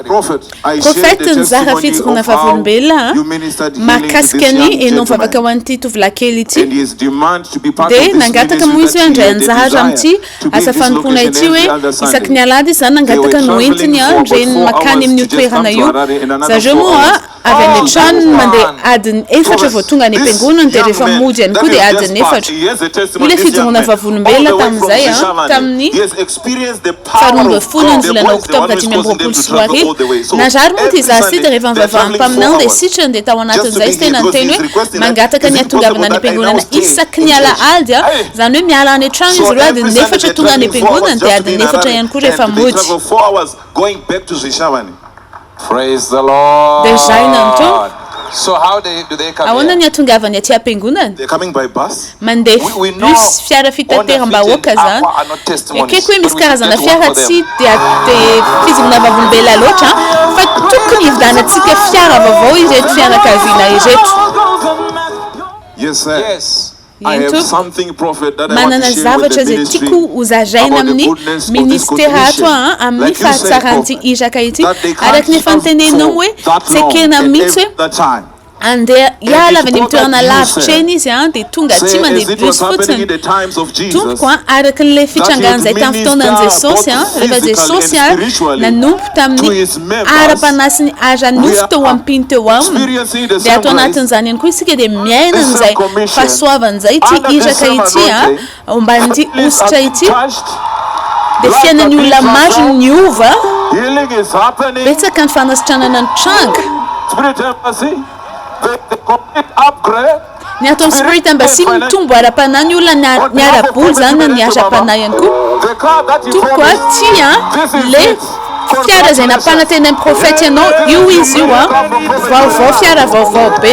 Prophète nizara fijoroana vavolombelona mahakasika ny enao vavaka ho an'ity tovolahy kely ity dia nangataka moa izy hoe handray anjara amin'ity asa fanompoana ity hoe isaky ny alahady izy zany nangataka no entiny ny reniny makany amin'io toerana io zareo moa Avy any an-trano ny mandeha adiny efatra vao tonga any am-piangonana dia rehefa mody ihany koa dia adiny efatra. Hoy ilay fijoroana vavolombelona tamin'izay an, tamin'ny faha roa ambin'ny folo ny volana Oktobra dimy amby roapolo sy roa arivo, Narary moa ity zaza ity dia rehefa nivavahan'ny mpaminany dia sitrany dia tao anatin'izay izy tena niteny hoe mangataka ny hatongavana any am-piangonana isaky ny alahady an, izany hoe miala any an-trano izy ireo adiny efatra tonga any am-piangonana dia adiny efatra ihany koa rehefa mody. Praise the Lord! Dia zaina ny Tompo! So how they do they come here? Ahoana ny atongavany aty am-piangonana? They are coming by bus? Mandeha We we know bus, fiara fitateram-bahoaka Only izany. are not testimonies. Ekeko hoe misy karazana fiara tsy dia dia fizonana vavolombelona But we should get one for them. loatra an, fa tokony hividianantsika fiara vaovao ireto fianakaviana ireto. Yes sir. Yes. Ento, manana zavatra izay tiako ho zaraina amin'ny Minisitera ato aho amin'ny fahatsaran'ity iraka ity. Araka ny efa noteneninao hoe tsy ekena mihitsy hoe handeha hiala avy any amin'ny toerana lavitra eny izy dia tonga aty mandeha bus fotsiny. Tompoko a, araka an'ilay fitrangan'izay tamin'ny fotoanan'i Jesosy, rehefa Jesosy nanompo tamin'ny. ara-panahy sy ny ara-nofo teo am-piny teo aminy, dia ato anatin'izany ihany koa isika dia miaina an'izay fahasoavana izay, ity iraka ity omban'ity hosotra ity, dia fiainan'ny olona maro no niova, betsaka ny fanasitranana nitranga. Ny ataon'ny Spirit Embassy mitombo ara-panahy ny olona ny ara-bola zany na ny ara-panahy ihany koa tompoko a, ty a le fiara zay nampanantenain'i prophète ianao io izy io a, vaovao fiara vaovao be.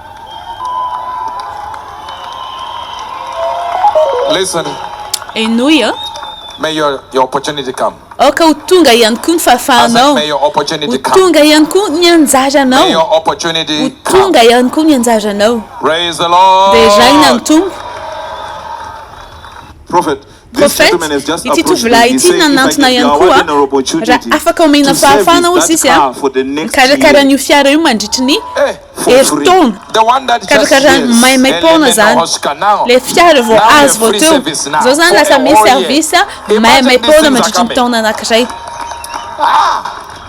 Henoy an! Aoka ho tonga ihany koa ny fahafahanao, ho tonga ihany koa ny anjaranao, ho tonga ihany koa ny anjaranao. Deraina ny Tompo. Prophète, ity tovolahy ity nanantona ihany koa raha afaka omena fahafahana hozy izy a mikarakara an'io fiara io mandritry ny herintaona, karakarany maimaim-poana zany le fiara vao azo vao teo, zao zany lasa misy service maimaim-poana mandritry ny taona anakiray.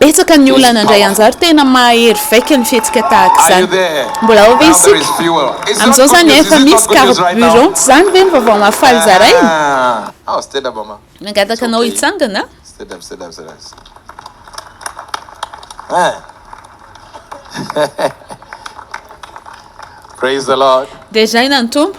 Betsaka ny olona nandray anjara. Tena mahahery vaika ny fihetsika tahaka izany. Mbola ao ve isika? Amin'izao izany efa misy carburant, tsy izany ve ny vaovao mahafaly zaraina? Nangataka anao hitsangana aho. Deraina ny Tompo.